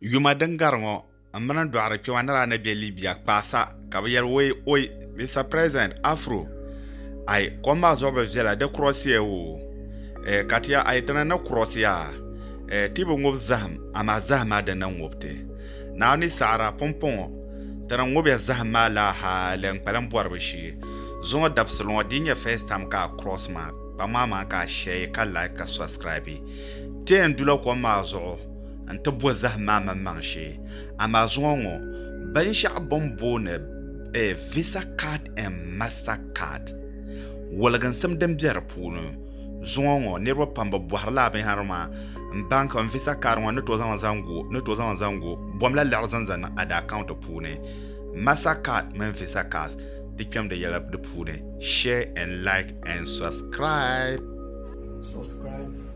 Yuma din gari ŋɔ n mini n dɔɣiri kpɛma ni daa ni be Libya kpaa sa ka bɛ yɛli oi oi Mister President Afro ayi kom maa zuɣu bi viɛla di kurɔsiya o eh ka ti ya ayi dina ni kurɔsiya eh ti bi ŋub zahim amaa zahim maa di ni ŋub ti Naa ni saɣira pumpɔŋɔ ti ni ŋub ya zahim maa laa hali n kpalim bɔribu shee zuŋɔ dabisili ŋɔ di yi nyɛ first time ka a cross ma kpaŋ maa maa ka a share ka like ka subscribe ti yɛn dula kom maa zuɣu n-ti bo zahim maa maŋmaŋ shee, amaa zuŋɔ ŋɔ binshɛɣu bɛ ni booni Visa Card and Master Card, woliginsim din be di puuni. Zuŋɔ ŋɔ niriba pam bɛ bɔhiri lala binyɛhiri maa m-baŋkim Visa Card ŋɔ ni tooi zaŋ zaŋ gu bomla liɣiri zaŋ zaŋ niŋ ada account puuni. Master Card mini Visa Cards ti kpɛm di yɛla di puuni. Share and like and subscribe.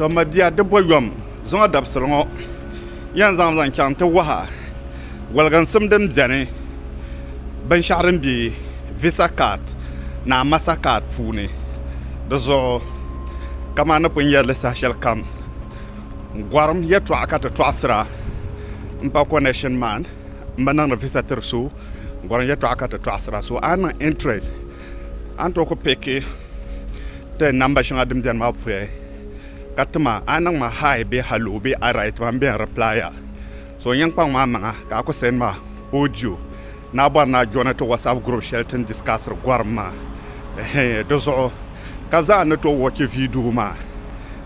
to ma bia di bɔ yom zuŋɔ dabisili ŋɔ yɛn zaŋ zaŋ chaŋ ti waha waliginsim din bɛni binshɛɣu din bɛ visa card ni a masa card puuni di zuɣu kamani ni pun yɛri li saha shɛli kam gɔrim yɛltɔɣa ka ti tɔɣisira n pa connection man n bi niŋdi visa tiri so gɔrim yɛltɔɣa ka ti tɔɣisira so a ni niŋ interest A ni tooi ku piki ti namba shɛŋa din beni maa puya ka tima a ni niŋ ma hi bee haloo bee alright maa m-be n reply a so n yɛn kpaŋ ma maŋa ka a ku send ma audio ni a bɔri ni a join ti WhatsApp group shɛli ti ni discussiri gɔrim maa ɛhɛi di zuɣu ka zaa n ni tooi watch video maa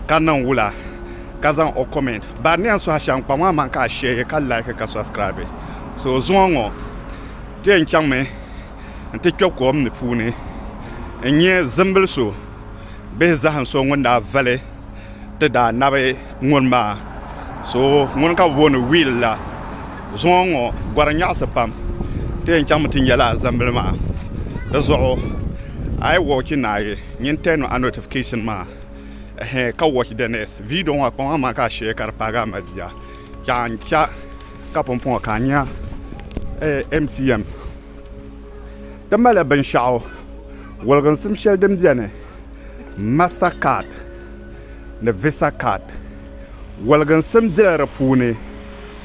ka niŋ wula ka zaŋ o comment bari ni yɛn suhi a shɛm kpaŋ ma maŋa ka a share ka like ka subscribe so zuŋɔ ŋɔ di yɛn chaŋmi n ti kpɛ kom ni puuni n nyɛ zimbili so bihi zaham so ŋun daa vali ti daa nabi ŋuni maa so ŋuni ka bi booni wiil la zuŋɔ n ŋɔ gɔri nyaɣasi pam ti yɛn chaŋmi ti nyɛ laa zambili maa dizuɣu a yi woochi ni a yi nyin tɛn a notifikɛshin maa ka woochi di nɛst viidiyɔ maa kpaŋa maa ka a shee ka di paagi a mali bia ka pumpɔŋɔ ka a nya MTM ti mali binshɛɣu wɔliginsim shɛli din beni master card ni visa card wɔliginsim bela di puuni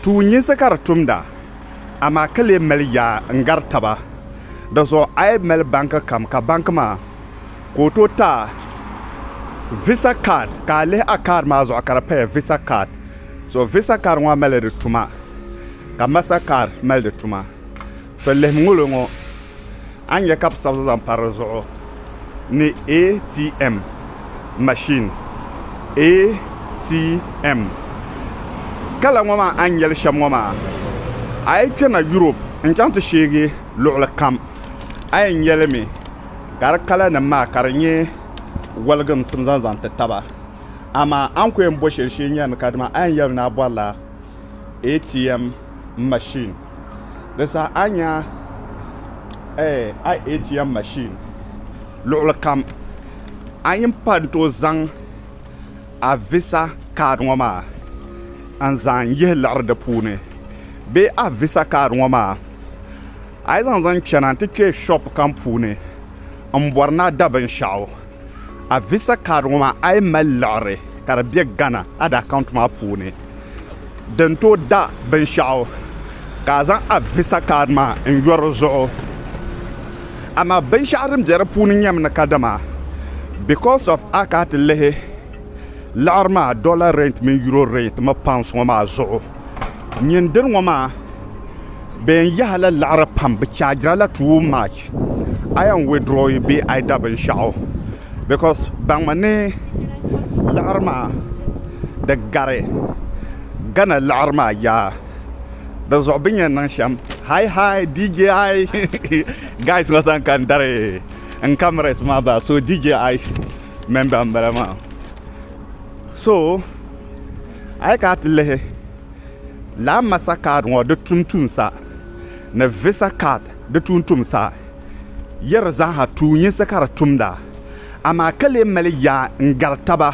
tuunyinsi ka di tumda amaa ka lee mali yaa n-gari taba di zuɣu a yi mali banki kam ka banki maa ka o tooi taai visa card ka a lihi a card maa zuɣu ka di paya visa card so visa card ŋɔ mali di tuma ka master card mali di tuma to lihimi ŋɔ lɔŋɔ a ni nya ka bɛ sabi zaŋ pa di zuɣu ni ATM machine ATM kala ŋɔ maa a ni nyeli shem ŋɔ maa a yi kpena Europe n chaŋ ti sheegi luɣuli kam a yen nyeli mi. gari kala nim maa ka di nyɛ waligimsim zaŋ zaŋ ti taba amaa a ni ku yɛn bo shɛli shee n-nyari ni kadama a yɛn yɛli ni a bɔrila ATM machine di saha a ni nya a ATM machine luɣili kam a yin pa n-tooi zaŋ a visa card ŋɔ maa n-zaŋ yihi liɣiri di puuni bee a visa card ŋɔ maa A yi zaŋ zaŋ chana nti kpe shop kam puuni m bɔri ni a da binshɛɣu, a visa card ŋɔ maa a yi mali liɣiri ka di be Ghana a di account maa puuni din tooi da binshɛɣu ka a zaŋ a visa card maa n yo di zuɣu. Amaa binshɛɣu din be di puuni nyɛmi ni kadama because of a ka a ti lihi liɣiri maa dollar rate mini euro rate mi pounds ŋɔ maa zuɣu. Nyɛ n diri ŋɔ maa, bɛ yɛn yahi la laɣiri pam, bɛ chargira la too much, a yɛn withdraw yi bee a yi da binshɛɣu because baŋmi ni laɣiri maa di gari Ghana laɣiri maa yaa di zuɣu bɛ ni yɛn niŋ shɛm hi hi DJ I guys ŋɔ zaŋ ka n dari n cameras maa bahi so DJ I member m-bala maa. so a yi kana ti lihi lala masa kaad ŋɔ di tum tuumsa ni visa kaad di tum tuumsa yi di zaaha tuunyinsi ka di tumda amaa ka lee mali yaa n gari taba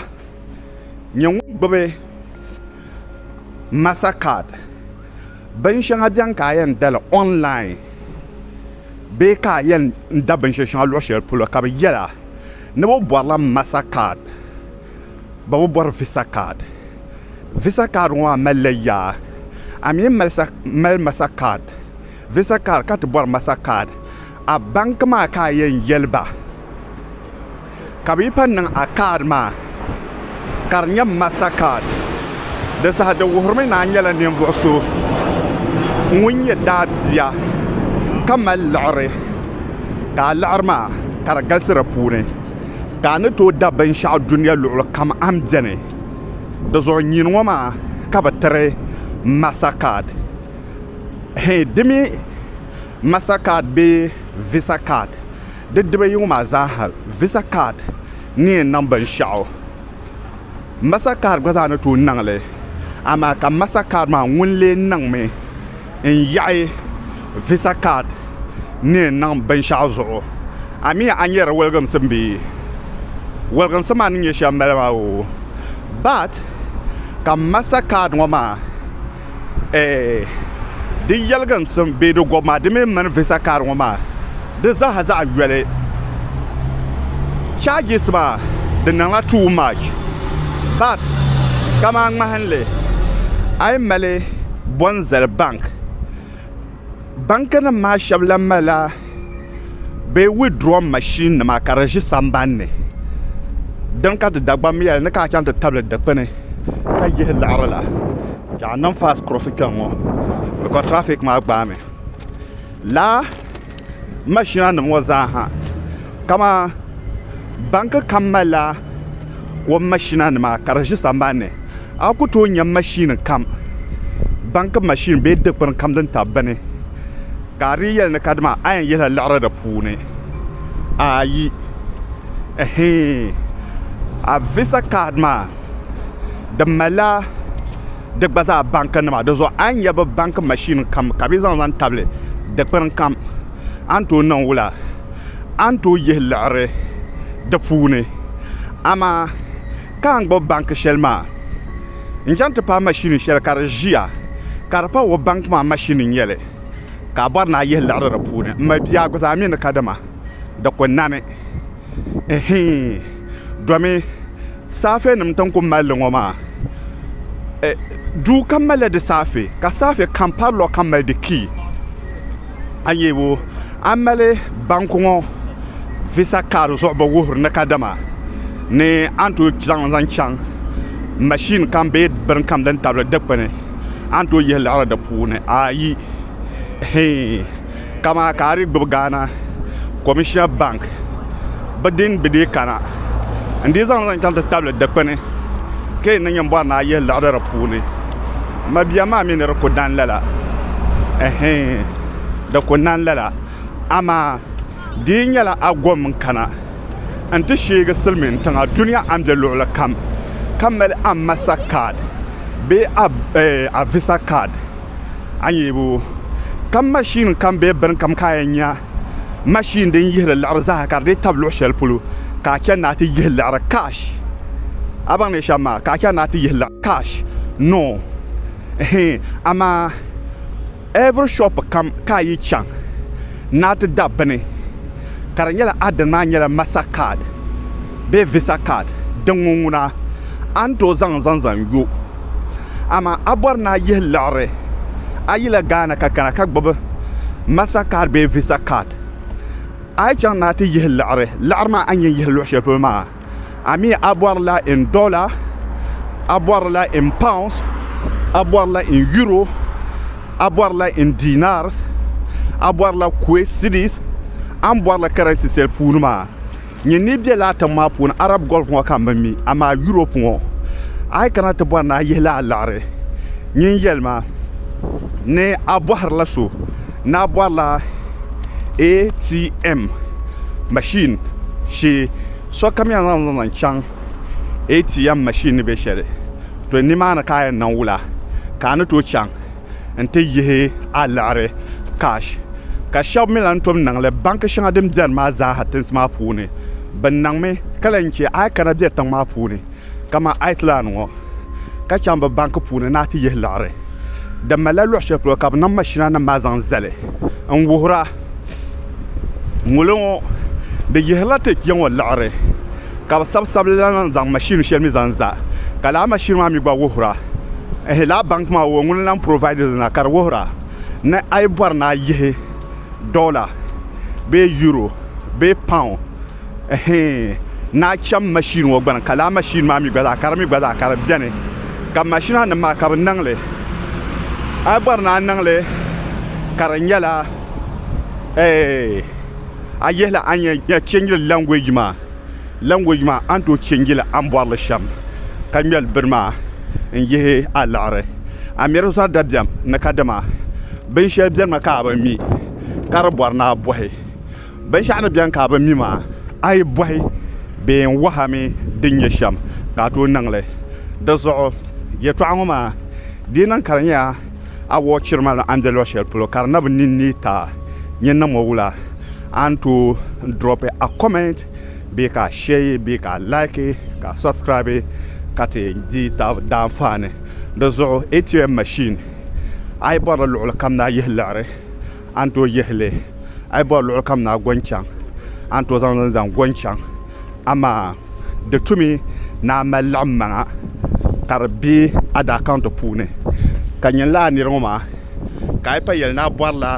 nyɛ ŋun gbubi masa kaad bin shɛŋa bɛni ka a yɛn dali ɔnlain bee ka a yɛn da binshɛli shɛŋa luɣu shɛli polo ka bi yɛli a ni bɛ bɔrila masa kaad ba bi bɔri visa kaad visa kaad ŋɔ maa malila yaa a mi ni mali masa kaad visa kaad ka ti bɔri masa kaad a banki maa ka a yɛn yɛli ba ka bɛ yi pun niŋ a kaad maa ka di nyɛ masta kaad di saha di wuhirimi ni a nyɛla ninvuɣ so ŋun nyɛ daabia ka mali liɣiri ka a liɣiri maa ka di galisi di puuni ka a ni tooi da binshɛɣu dunia luɣuli kam a ni beni di zuɣu nyini ŋɔ maa ka bɛ tiri masta kaad hɛn di mi masta kaad bee visa kaad di dibayi ŋɔ maa zaa ha visa kaad ni yɛn niŋ binshɛɣu mastercard gba zaa ni tooi niŋ li amaa ka mastercard maa ŋun lee niŋmi n yaɣi visa card ni yɛn niŋ binshɛɣu zuɣu a miya a ni yɛri wɔlgiŋsim bee wɔlgiŋsim maa ni nyɛ shɛli m bala maa oo but ka mastercard ŋɔ maa eh, di yɛligi n sim bee di gɔbi maa di mini mani visa kaari ŋɔ maa di zaaha zaɣ yoli charges maa di niŋla too much but kaman ŋmahinli a yi mali bɔnzali bank Banki nim maa shɛbi lan malila bɛ withdraw machine nima ka di ʒi sambani ni din ka ti Dagbammi yɛli ni ka a chaŋ ti tabili dikpuni ka yihi liɣiri la ka a niŋ fast kuroosi kpɛŋŋɔ bicos traffic maa gbaami lala machina nim ŋɔ zaa ha kamani banki kam malila o machina nima ka di ʒi sambani ni A ku tooi nya mashin kam, banki mashin bee dikpini kam din tabi bini, ka a dii yɛli ni kadama a yɛn yihila liɣiri di puuni? Aayi. Ɛhii. A visa kaad maa, di malila di gba zaa bankinima. Dinzuɣu a ni nya bɛ banki mashin kam ka bɛ zaŋ zaŋ tabili dikpini kam, a ni tooi niŋ wula? A ni tooi yihi liɣiri di puuni. Amaa! ka n gbubi banki shɛli maa n chaŋ ti paai mashini shɛli ka di ʒiya ka di pa o banki maa mashini n-nyɛli ka a bɔri ni a yihi liɣiri di puuni m ma bia guzaa mi ni kadama di ku nani ɛhii domi saafenim ti ni ku mali li ŋɔ maa duu kam malila di saafe ka saafe kam parlor kam mali di kii a yɛ o a ni mali banku ŋɔ visa card zuɣu bi wuhiri ni kadama ni a ni tooi zaŋ li zaŋ chaŋ mashini kam bee bini kam din tabili dikpuni a ni tooi yihi liɣiri di puuni ayi hii kamani ka a dii gbubi Ghana komishina bank bi din bi dii kana n dii zaŋ zaŋ chaŋ ti tabili dikpuni ka yi ni nyini bɔri ni a yihi liɣiri di puuni mabiɛm maa mi ni di ku dan lala ɛhɛin di ku nan lala amaa di yi nyɛla a gom n kana n ti sheegi silimiin tiŋa dunia a ni be luɣuli kam ka mali a masa kaad bee a visa kaad a ni yɛn bo ka mashin kam bee bini kam ka a yɛn nya mashin din yihiri liɣiri zaa ka di dii tabi luɣ shɛli polo ka a chani ni a ti yihi liɣiri cash a baŋ ni shɛm maa ka a chani ni a ti yihi liɣiri cash no hee amaa every shop kam ka a yi chaŋ ni a ti da bini ka di nyɛla a dini maa nyɛla master card bee visa card din ŋɔ ŋuna a ni tooi zaŋ zaŋ zaŋ yo amaa a bɔri ni a yihi liɣiri a yila Ghana ka kana ka gbubi Master card bee Visa card. A yi chaŋ ni a ti yihi liɣiri, liɣiri maa a ni yɛn yihi luɣi shɛli polo maa, a mi a bɔri la in dollar, a bɔri la in pounds, a bɔri la in euro, a bɔri la in dinars, a bɔri la Kuwait cedis, a ni bɔri la currency shɛli puuni maa. Nyini ni be laa tiŋ maa puuni Arab Gulf ŋɔ ka m bi mi amaa Europe ŋɔ a yi kana ti bɔri ni a yihi li a liɣiri nyin yɛli ma ni a bɔhiri la so ni a bɔri la ATM machine shee sokam yɛn zaŋ li zaŋ chaŋ ATM machine ni be shɛli to nimaani ka a yɛn niŋ wula ka a ni tooi chaŋ. n ti yihi a liɣiri cash ka shɛba mi lan tom niŋli banki shɛŋa din beni maa zaa tinsi maa puuni bɛ niŋmi ka lan che a yi kana be tiŋ maa puuni kaman Iceland ŋɔ ka chaŋ bɛ banki puuni ni a ti yihi liɣiri di malila luɣ shɛli polo ka bɛ niŋ mashinanima maa zaŋ zali n wuhira ŋolo ŋɔ di yihirila ti ya ŋɔ liɣiri ka bi sabi sabili la lan zaŋ machine shɛli mi zaŋ za ka lala machine maa mi gba wuhira ehe lala bank maa o ŋuni lan provide li na ka di wuhira ni a yi bɔri ni a yihi dollar bee euro bee pound ehe ni a chaŋ machine ŋɔ gbuni ka lala machine maa mi gba zaa ka di mi gba zaa ka di beni ka machine nim maa ka bi niŋ li a yi bɔri ni a niŋ li ka di nyɛla eeh a yihili a ni yɛn chɛnjiri language maa language maa a ni tooi chɛnji li a ni bɔri li shɛm ka ŋmɛri bini maa n-yihi a liɣiri a miri zɔri dabiɛm ni kadama binshɛli benimi ka a bi mi ka di bɔri ni a bɔhi binshɛɣu ni beni ka a bi mi maa a yi bɔhi bee n-wahi a mi din nyɛ shɛm ka a tooi niŋ li di zuɣu yɛltɔɣa ŋɔ maa di yi niŋ ka di nyɛla a wɔɔ chiri ma an deli shɛli polo ka di na bi niŋ ni ka nyɛ namo wula a ni tooi drop a comment bee ka a share bee ka a like ka a subscribe ka ti di tabi daanfaani di zuɣu ATM machine a yi bɔri li luɣuli kam na yihi liɣiri a ni tooi yihili a yi bɔri luɣuli kam na go n chaŋ a ni tooi zaŋ li zaŋ go n chaŋ amaa di tu mi ni a mali laɣim maŋa ka di bɛ a daa kaunti puuni ka nyini lala niri ŋɔ maa ka a yi pa yɛli ni a bɔri la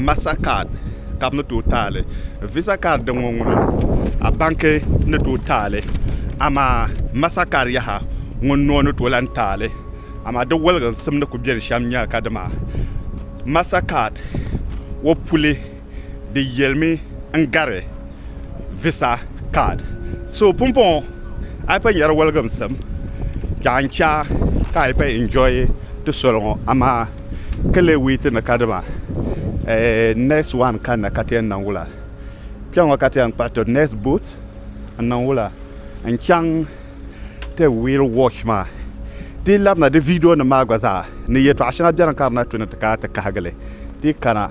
masta kaad ka bi ni tooi taali visa kaad din ŋɔ ŋuna a banki ni tooi taali amaa masta kaad yaha ŋuni noo ni tooi lan taali amaa di wɔliginsim ni ku bɛ di shɛm nyɛla ka dama masta kaad o puli Di yelimi n gari visa card. So pumpɔŋɔ a yi pa nyari waligimsim ka n cha ka a yi pa enjoy ti soli ŋɔ amaa ka lee wait ni ka dima next one kanna ka ti yɛn niŋ wula? Kpeŋɔ ka ti yɛn kpuɣi to next boat n niŋ wula n chaŋ ti wheel watch maa ti yi labina di video nim maa gba zaa ni yɛtɔɣa shɛŋa beni ka di na tu ni ti kana ti kahigili ti yi kana